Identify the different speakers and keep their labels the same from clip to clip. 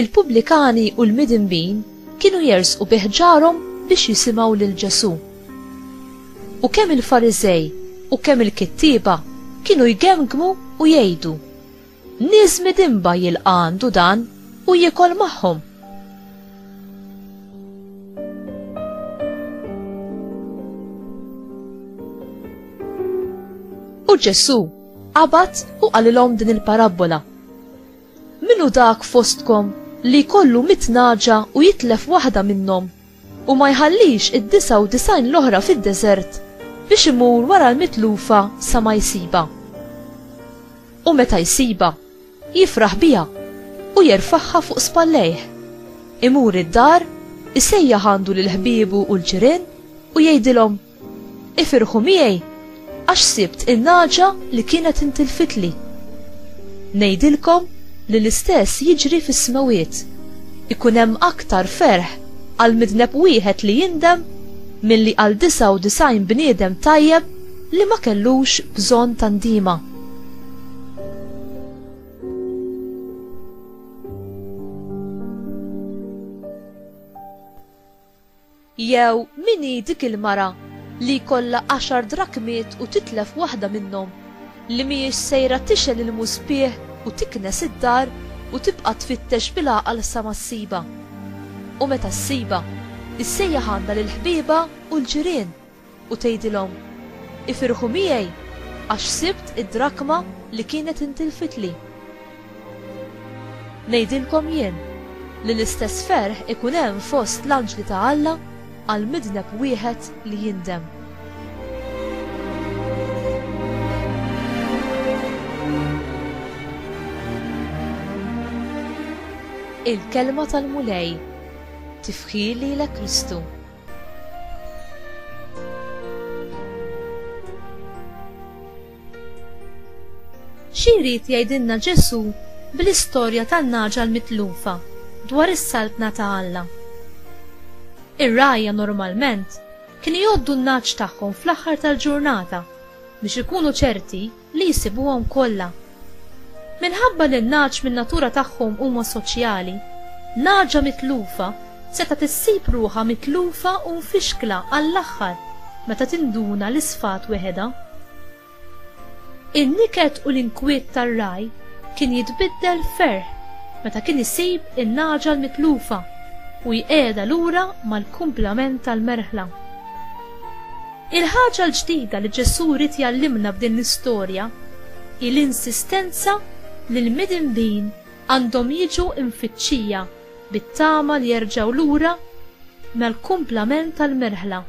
Speaker 1: Il-pubblikani u l-midinbin kienu jersqu bi ħġarhom biex jisimgħu lil Ġesù. U kemm il-Fariżej u kemm il-kittieba kienu jgemgmu u jgħidu, Nies midinba jilqa' għandu dan u jiekol magħhom! U Ġesù qabad u qalilhom din il-parabbola, Min hu dak fostkom li jkollu mitt nagħġa u jitlef waħda minnhom, u ma jħallix id-disgħa u disgħin l-oħra fid-deżert biex imur wara l-mitlufa sa ma jsibha? U meta jsibha, jifraħ biha u jerfagħha fuq spallejh. Imur id-dar, isejjaħ għandu lil ħbiebu u l-ġirien u jgħidilhom, Ifirħu miegħi għax sibt in-nagħġa li kienet intilfitli. Ngħidilkom li l-istess jiġri fis-smewwiet. Ikun hemm aktar ferħ għal midneb wieħed li jindem milli għal 99 bniedem tajjeb li ma kellux bżonn ta' ndima. Jew min hi dik il-mara li jkollha għaxar drakmiet u titlef waħda minnhom, li mhijiex sejra tixgħel il-muspieħ u tiknes id-dar u tibqa' tfittex bil-għaqal sa ma ssibha? U meta ssibha, issejjaħ għandha lill-ħbiebha u l-ġirien. u tgħidilhom, 'Ifirħu miegħi, għax sibt id-drakma li kienet intilfitli. Ngħidilkom jien li l-istess ferħ ikun hemm fost l-anġli ta' Alla għal midneb wieħed li jindem. Il-Kelma tal-Mulej, Tifħir lilek Kristu. Xi jrid jgħidilna Ġesù bl-istorja tan-nagħġa l-mitlufa dwar is-Saltna ta' Alla? Ir-rgħajja normalment kienu jgħoddu n-nagħaġ tagħhom fl-aħħar tal-ġurnata biex ikunu ċerti li jsibuhom kollha. Minħabba li n-nagħaġ min-natura tagħhom huma soċjali, nagħaġa mitlufa setgħet issib ruħha mitlufa u mfixkla għall-aħħar meta tinduna li sfat weħedha. In-niket u l-inkwiet tar-ragħaj kien jitbiddel f'ferħ meta kien isib in-nagħaġa l-mitlufa u jqiegħedha lura mal-kumplament tal-merħla. Il-ħaġa l-ġdida li Ġesù ried jgħallimna b'din l-istorja hi l-insistenza li l-midinbin għandhom jiġu mfittxija bit-tama li jerġgħu lura mal-kumplament tal-merħla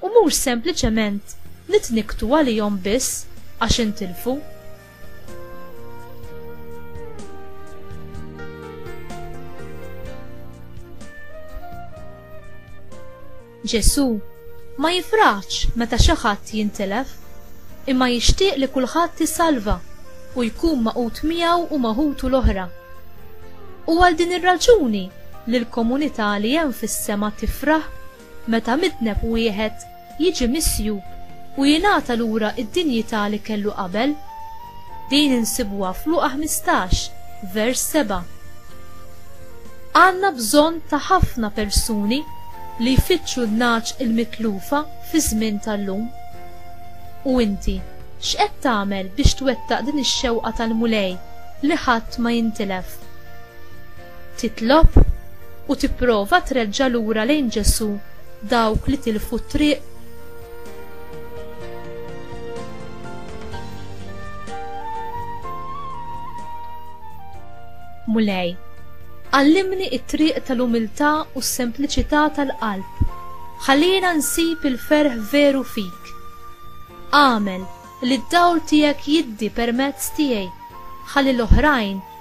Speaker 1: u mhux sempliċement nitnikktu għalihom biss għax intilfu. Ġesù ma jifraħx meta xi ħadd jintilef, imma jixtieq li kulħadd isalva u jkun magħqud miegħu u ma' ħutu l-oħra. Hu għal din ir-raġuni li l-komunità li hemm fis-sema tifraħ meta midneb wieħed jiġi misjub u jingħata lura d-dinjità li kellu qabel. Din insibuha f'Luqa 15, vers 7. Għandna bżonn ta' ħafna persuni li jfittxu n-nagħaġ il-mitlufa fiż-żmien tal-lum. U inti, x'qed tagħmel biex twettaq din ix-xewqa tal-Mulej li ħadd ma jintilef? titlob u tipprova treġġa' lura lejn Ġesù dawk li tilfu t-triq. Mulej, għallimni it-triq tal-umiltà u s-sempliċità tal-qalb. Ħallina nsib il-ferħ veru fik. Għamel li d-dawl tiegħek jiddi permezz tiegħi ħalli l-oħrajn